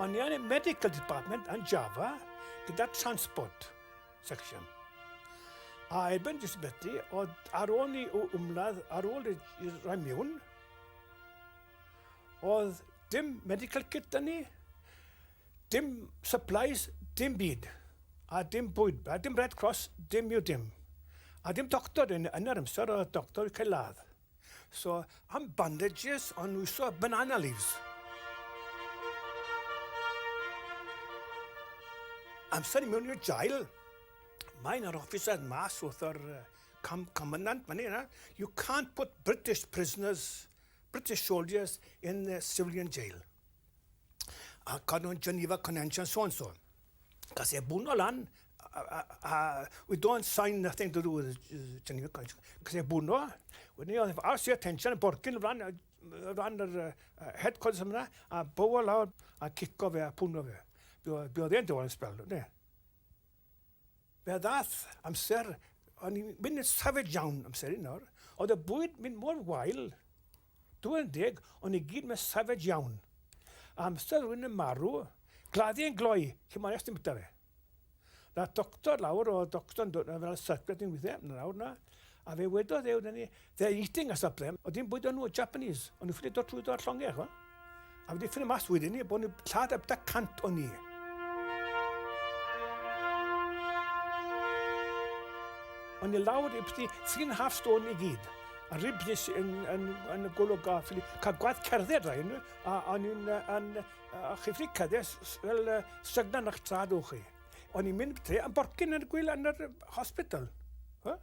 O'n i yn y medical department yn Java gyda transport section. A erbyn disability, oedd ar ôl ni o ymladd, ar ôl i'r rhai miwn, oedd dim medical kit yn ni. Dim supplies, dim byd. A dim bwyd, a dim Red Cross, dim yw dim. A dim doctor, yn yn yr amser oedd doctor wedi cael ladd. So, am bandages, o'n nhw iso banana leaves. Amser i mewn i'r jail, mae yna'r officer mas wrth yr com commandant fan hyn, you can't put British prisoners, British soldiers in the civilian jail. a Canwn Geneva Convention, so and so. Gas e bwno lan, a we don't sign nothing to do with Geneva Convention. Gas e bwno, wedyn ni oedd arsi attention, borgyn o flan, o flan yr uh, headquarters yma, a bow lawr, a cico fe, a pwno fe. Be oedd e'n dod yn spel, ne? Fe ddath amser, o'n i'n mynd yn savage iawn amser un nawr, oedd y bwyd mynd mor wael, Dw i'n deg, ond i gyd mae'n savage iawn. Amser rhywun yn marw, gladdu yn gloi, cyn mario sdim bita fe. Na doctor lawr, oedd doctor'n dod yna fel circus yn weithiau, na lawr na. A fe wedodd e wrthyn ni, they're eating us up there, oedd dim bwyd o'n nhw, Japanese, o'n nhw'n ffili dod trwyddo ar llongau, chwa. A wedi ffynu mas wedyn ni, bod ni lladd ab da cant o ni. Ond i lawr i byti three and a half stone i gyd. A rib nes yn, yn, yn y golwg a ffili cael gwaith cerdded rhaid nhw. A o'n i'n yn, a chi ffili cyddes fel uh, stygnan o'ch trad o'ch chi. O'n i'n mynd byti am borcyn yn y gwyl yn yr hospital. Huh?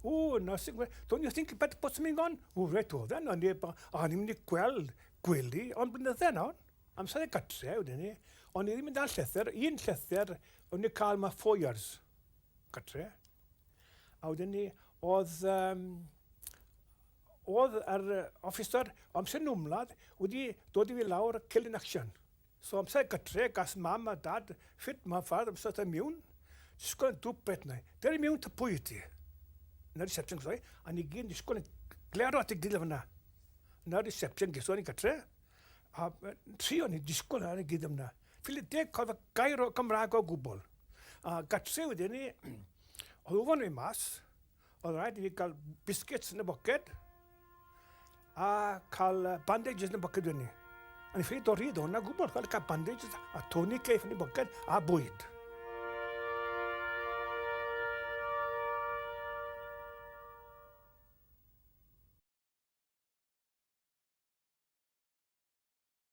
O, na, sy'n gweud, don't you think about what's going on? O, reit, oedd e, o'n i'n mynd i gweld gwely, ond blynydde yn ol, amser y gatre wedyn ni, o'n i ddim yn dal llythyr, un llythyr o'n i'n cael ma four years gatre. A wedyn ni, oedd, um, oedd yr officer amser nwmlad wedi dod i fi lawr Killing Action. So amser gytre gas mam a dad shwt ma far amser ta miwn disgwl yn dwp beth nai deri miwn ta pwy wyt ti yn y reception geso ni a ni gyd yn disgwl yn glero at ei gilydd fynna yn y reception geso ni gytre a tri o'n i'n disgwl ar ei gilydd fynna ffili deg cofio gair o Gymraeg o gwbl a gytre wedyn ni oedd ufon fi mas Oedd rhaid i fi cael biscuits yn y boced a cael bandages yn y boced wedyn ni. O'n i'n ffili dod rhydd o'na gwbl, chwarae cael bandages a Tony Cleif yn y boced a bwyd.